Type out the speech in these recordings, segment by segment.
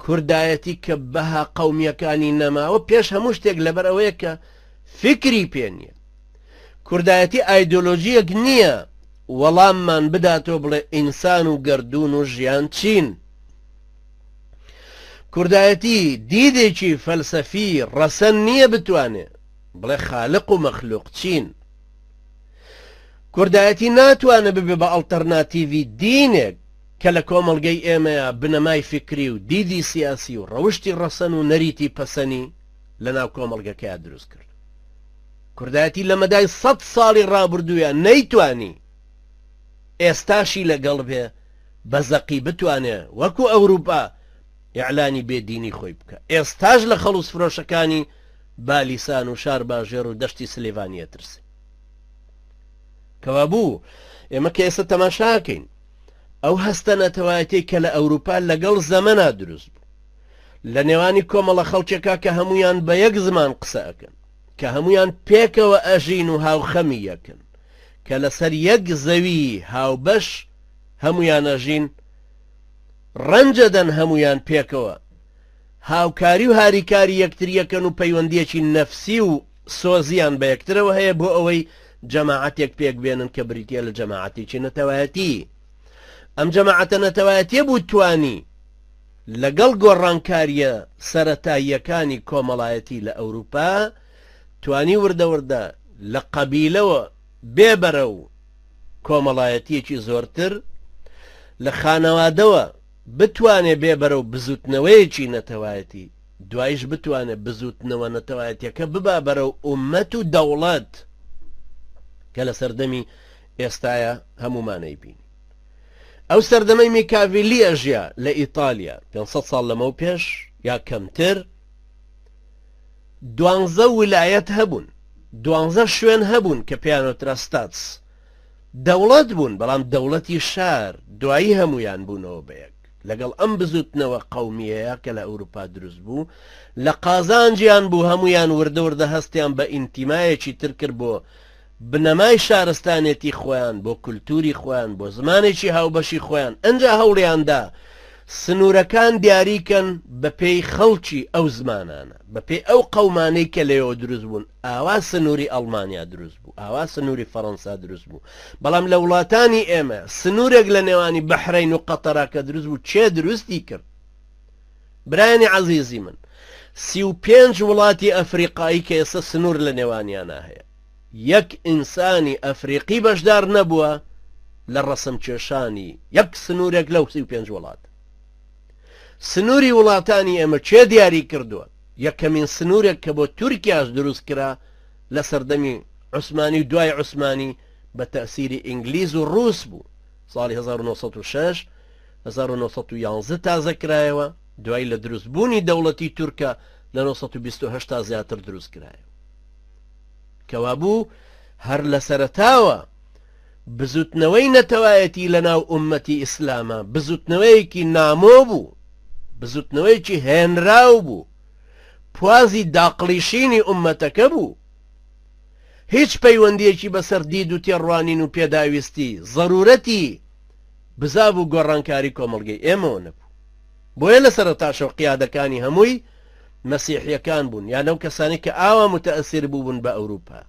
کوردایەتی کە بەها قەومیەکانی نەماوە پێش هەموو شتێک لەبەر ئەوەیە کە فیکری پێ نیە کوردایەتی ئایدۆلۆژیەک نیە وەڵاممان بداتەوە بڵێ ئینسان و گەردوون و ژیان چین کوردایەتی دیدێکی فەلسەفی ڕەسەن نیە بتوانێ بڵێ خالق و مەخلوق چین کوردایەتی ناتوانە ببێ بە ئەڵتەرناتیڤی دینێک کە لە کۆمەڵگەی ئێمەیا بنەمای فیکری و دیدی سیاسی و ڕەوشتی ڕەسەن و نەریتی پەسەنی لە ناو کۆمەڵگەکەیا دروست کرد. کوردایەتی لە مەدای سەد ساڵی ڕابوردوویا نەیتوانی ئێستاشی لە گەڵ بێ بە زەقی بتوانێ وەکوو ئەورووپا ئیعلانی بێ دینی خۆی بکا. ئێستاش لە خەڵووز فرۆشەکانی بالیسان و شارباژێر و دەشتی سلیڤانی ئەترسێ. کەوابوو ئێمە کە ئێستا تەماشا ئەکەین، ئەو هەستە نەتەوایەتیەی کە لە ئەوروپا لەگەڵ زەمەنا دروست بوو لە نێوانی کۆمەڵە خەڵکێکا کە هەموویان بە یەک زمان قسە ئەکەن کە هەموویان پێکەوە ئەژین و هاوخەمی یەکن کە لەسەر یەک زەوی هاوبەش هەموویان ئەژین ڕەنجەدەن هەموویان پێکەوە هاوکاری و هاریکاری یەکتریەکەن و پەیوەندیەکی نەفسی و سۆزیان بە یەکترەوە هەیە بۆ ئەوەی جەماعەتێک پێک بێنن کە بریتیە لە جەماعەتێکی نەتەوایەتی ئەم جەماعەتە نەتەوایەتیە بوو توانی لەگەڵ گۆڕانکاریە سەتاییەکانی کۆمەڵایەتی لە ئەوروپا توانی وردەوردە لە قەبیلەوە بێبەرە و کۆمەڵایەتیەکی زۆرتر لە خانەوادەوە بتوانێ بێبەرە و بزوتنەوەیەکی نەتەوایەتی دوایش بتوانێت بزووتنەوە نەتەوایەتیەکە ببا بەرەو ئومەت و دەوڵەت کە لە سەردەمی ئێستایا هەموومانەی بین ئەو سەردەمەی میکاڤلی ئەژیا لە ئیتالیا 500 ساڵ لەمەو پێش یا کەمتر دوانزە ولایەت هەبوون دوانزە شوێن هەبوون کە پێیانۆترا ستاتس دەوڵەت بوون بەڵام دەوڵەتی شار دوایی هەمویان بوونەوە بەیەک لەگەڵ ئەم بزوتنەوە قەومیەیە کە لە ئەوروپا دروست بوو لە قازانجیان بوو هەموویان وردە وردە هەستیان بە ئینتیمایەکی تر کرد بۆ بنەمای شارستانێتی خۆیان بۆ کولتوری خۆیان بۆ زمانێکی هاوبەشی خۆیان ئەنجا هەوڵیاندا سنوورەکان دیاریکەن بە پێی خەڵکی ئەو زمانانە بە پێی ئەو قەومانەی کە لەوە دروست بوون ئاوا سنووری ئەڵمانیا دروست بوو ئاوا سنووری فەڕەنسا دروست بوو بەڵام لە وڵاتانی ئێمە سنورێک لە نێوانی بەحرەین و قەتەرە کە دروست بوو کێ دروستی کرد برایانی عەزیزی من سی و پێنج وڵاتی ئەفریقایی کە ئێستا سنور لە نێوانیانە هەیە یەک ئینسانی ئەفریقی بەشدار نەبووە لە ڕەسم کێشانی یەک سنورێک لەو سی و پێنج وڵات سنووری وڵاتانی ئێمە چێ دیاری کردووە یەکەمین سنوورێک کە بۆ تورکیاش دروست کرا لە سەردەمی عوسمانی و دوای عوسمانی بە تەئسیری ئینگلیز و ڕووس بوو، ساڵی هەزار و نۆ سەد و شەش، هەزار و نۆ سەد و یازدە تازە کرایەوە، دوایی لە دروست بوونی دەوڵەتی تورکە لە نۆ سەد و بیست و هەشت تا زیاتر دروست کرایەوە. کەوابوو هەر لە سەرەتاوە بزووتنەوەی نەتەوایەتی لە ناو ئوممەتی ئیسلاما بزووتنەوەیەکی نامۆ بوو، بزووتنەوەیەکی هێنراو بوو، پوازی داقڵیشینی ئوممەتەکە بوو، هیچ پەیوەندیەکی بەسەر دید و تێڕوانین و پێداویستی، زەرورەتی، بزاڤ و گۆڕانکاری کۆمەڵگەی ئێمەوە نەبوو. بۆیە لە سەرەتاشەوە قیادەکانی هەمووی مەسیحیەکان بوون، یان ئەو کەسانەی کە ئاوا موتەئەسیر بووبوون بە ئەوروپا،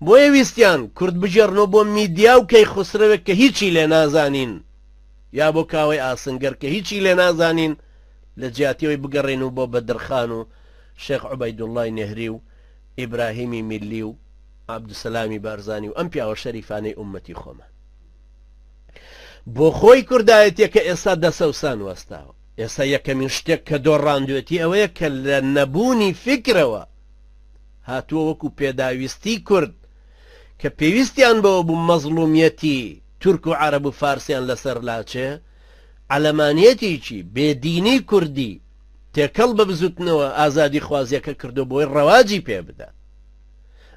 بۆیە ویستیان کورد بگێڕنەوە بۆ میدیا و کەیخوسرەوێک کە هیچی لێ نازانین، یا بۆ کاوەی ئاسنگەر کە هیچی لێ نازانین، لە جیاتی ئەوەی بگەڕێن و بۆ بەدرخان و شێخ عوبەیدوڵڵای نێهری و ئیبراهیمی میللی و عەبدوسەلامی بارزانی و ئەم پیاوە شەریفانەی ئوممەتی خۆمان بۆ خۆی کوردایەتیەکە ئێستا دەسەوسان وەستاوە ئێستا یەکەمین شتێک کە دۆڕاندوێتی ئەوەیە کە لە نەبوونی فکرەوە هاتووە وەکو پێداویستی کورد کە پێویستیان بەوە بوو مەزڵومیەتی تورک و عرب و فارسیان لەسەر لاچێ عەلەمانیەتێکی بێ دینی کوردی تێکەڵ بە بزوتنەوە ئازادی خوازیەکە کردوە بۆی ڕەواجی پێ بدا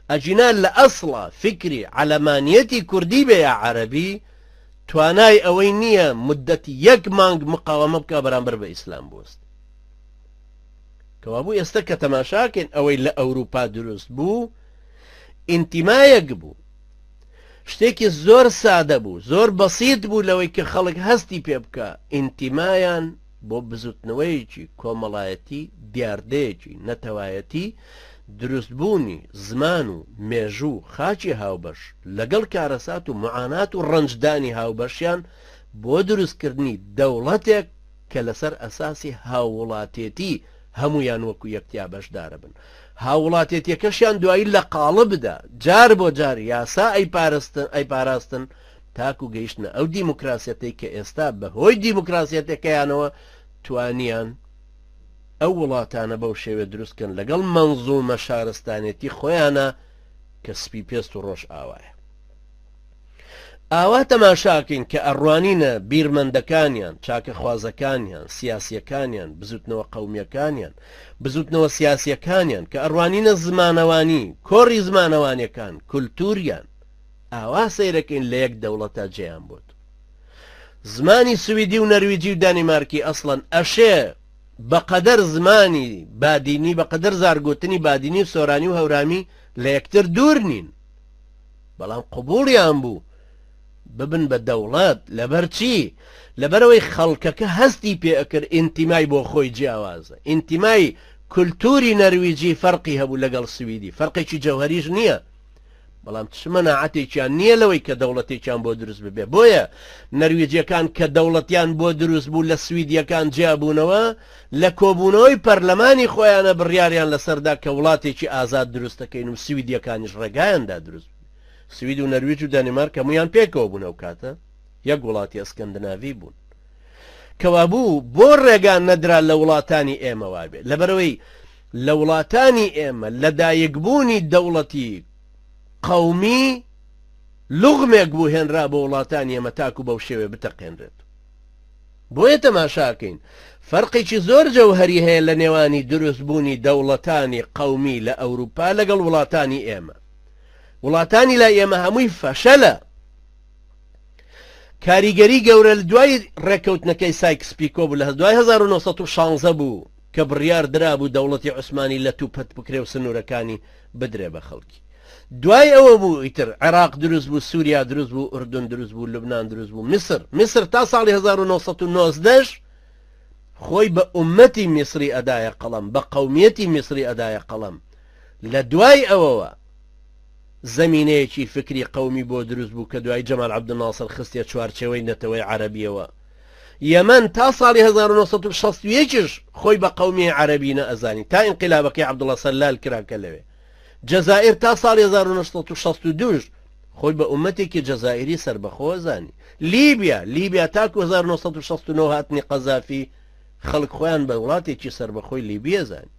ئەگینا لە ئەسڵا فیکری عەلەمانیەتی کوردی بێ یا عەرەبی توانای ئەوەی نیە مدەت یەک مانگ مقاوەمە بکا بەرامبەر بە ئیسلام بوست کەوابوو ئێستا کە تەماشاکەین ئەوەی لە ئەوروپا دروست بوو ئینتیمایەک بوو شتێکی زۆر سادە بوو، زۆر بەسیت بوو لەوەی کە خەڵک هەستی پێ بکا، ئینتیمایان بۆ بزوتنەوەیەکی کۆمەڵایەتی، دیاردەیەکی نەتەوایەتی، دروستبوونی زمان و مێژوو و خاکی هاوبەش، لەگەڵ کارەسات و معانات و ڕەنجدانی هاوبەشیان بۆ دروستکردنی دەوڵەتێک کە لەسەر ئەساسی هاووڵاتێتی هەموویان وەکو یەک تیا بەشداربن، هاووڵاتێتیەکەشیان دوایی لە قاڵبدا جار بۆ جار یاسا ئەیپاراستن تاکو گەیشتنە ئەو دیموکراسیەتەی کە ئێستا بەهۆی دیموکراسیەتەکەیانەوە توانیان ئەو وڵاتانە بەو شێوێ دروستکەن لەگەڵ مەنزومە شارستانێتی خۆیانە کە سپی پێست و ڕۆژئاوایە. ئاوا تەماشاکەین کە ئەڕوانینە بیرمەندەکانیان، چاکەخوازەکانیان، سیاسیەکانیان، بزوتنەوە قەومیەکانیان، بزوتنەوە سیاسیەکانیان، کە ئەڕوانینە زمانەوانی، کۆڕی زمانەوانیەکان، کولتوریان، ئاوا سەیرەکەین لە یەک دەوڵەتا جێیان بۆت. زمانی سویدی و نەرویجی و دانیمارکی ئەسڵەن ئەشێ بە قەدەر زمانی بادینی بە قەدەر زارگۆتنی بادینی و سۆرانی و هەورامی لە یەکتر دوور نین. بەڵام قبوڵیان بوو ببن بە دەوڵەت لەبەرچی لەبەرەوەی خەڵکەکە هەستی پێ ئەکرد ئینتیمای بۆ خۆی جیاوازە ئینتیمای کولتوری نەرویجی فەرقی هەبوو لەگەڵ سویدی فەرقێکی جەوهەریش نییە بەڵام چ مەناعەتێکیان نییە لەوەی کە دەوڵەتێکیان بۆ دروست ببێ بۆیە نەرویجیەکان کە دەوڵەتیان بۆ دروست بوو لە سویدیەکان جیابوونەوە لە کۆبوونەوەی پەرلەمانی خۆیانە بڕیاریان لەسەردا کە وڵاتێکی ئازاد دروست دەکەین و سویدیەکانیش ڕێگایان دا دروست ببێت. سوید و نەرویج و دانیمارک هەموویان پێکەوە بوون ئەو کاتە یەک وڵاتی ئەسکەندناڤی بوون. کەوابوو بۆ ڕێگا نەدرا لە وڵاتانی ئێمە وا بێت؟ لەبەرئەوەی لە وڵاتانی ئێمە لەدایکبوونی دەوڵەتی قەومی لوغمێک بوو هێنرا بۆ وڵاتانی ئێمە تاکو بەو شێوەیە بتەقێنرێت. بۆیە تەماشاکەین فەرقێکی زۆر جەوهەری هەیە لە نێوانی دروست بوونی دەوڵەتانی قەومی لە ئەوروپا لەگەڵ وڵاتانی ئێمە وڵاتانی لای ئێمە هەمووی فەشەلە کاریگەری گەورە لە دوای ڕێککەوتنەکەی سایکس پیکۆ بوو لە دوای 1916 بوو کە بڕیار درابوو دەوڵەتی عوسمانی لەتوو پەت بکرێ و سنوورەکانی بدرێ بە خەڵکی. دوای ئەوە بوو ئیتر عێراق دروست بوو، سووریا دروست بوو، ئوردن دروست بوو، لوبنان دروست بوو، میسر، میسر تا ساڵی هەزار و نۆ سەد و نۆزدە ش خۆی بە ئوممەتی میسری ئەدایە قەڵەم، بە قەومیەتی میسری ئەدایە قەڵەم. لە دوای ئەوەوە زەمینەیەکی فکری قەومی بۆ دروست بوو کە دوایی جەمال عەبدولناسر خستیە چوارچێوەی نەتەوەی عەرەبیەوە، یەمەن تا ساڵی هەزار و نۆ سەد و شەست و یەک ش خۆی بە قەومیەی عەرەبی نە ئەزانی تا ئینقلابەکەی عەبدوڵا سەلال کرا کە لەوێ جەزائیر تا ساڵی هەزار و نۆ سەد و شەست و دوو ش خۆی بە ئومەتێکی جەزائیری سەربەخۆ زانی لیبیا لیبیا تاکو هەزار و نۆ سەد و شەست و نۆ هاتنی قەزافی خەڵک خۆیان بە وڵاتێکی سەربەخۆی لیبیە زانی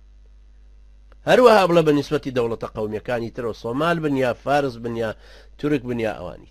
هەروەها بڵە بە نیسبەتی دەوڵەتە قەومیەکانی ترەوە سۆمال بن یا فارس بن یا تورک بن یا ئەوانی